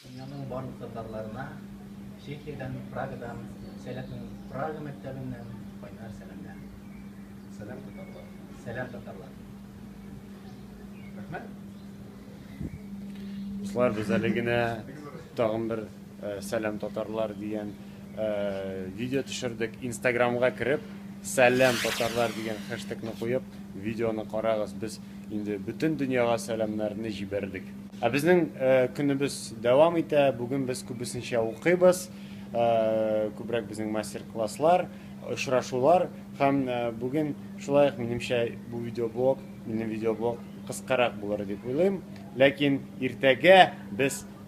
Дөньяның барлык татарларына Чехиядән, Прагадан, Сәләтнең Прага мәктәбеннән кайнар сәламнәр. Сәлам татарлар. Сәлам татарлар. Рәхмәт. Дуслар, без әле генә тагын бер Сәлам татарлар дигән видео төшердек. Инстаграмга кереп, сәлам татарлар дигән хэштегны куеп, видеоны карагыз. Без инде бөтен дөньяга сәламнәрне җибәрдек. Ә безнең көнебез дәвам итә. Бүген без күбесенчә укыйбыз. Күбрәк безнең мастер-класслар, очрашулар һәм бүген шулай ук минемчә бу видеоблог, минем видеоблог кыскарак булыр дип уйлыйм. Ләкин иртәгә без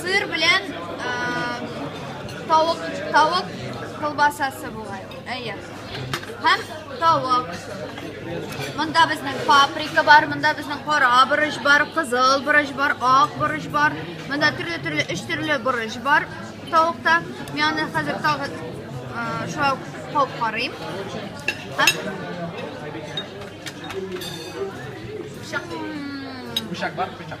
Сыр белән тавык, тавык колбасасы була. Әйе. Һәм тавык. Монда безнең паприка бар, монда безнең кара борыч бар, кызыл борыч бар, ак борыч бар. Монда төрле-төрле өч төрле борыч бар тавыкта. Мин аны хәзер тагы шулай калып карыйм. Һәм Пычак бар, пычак.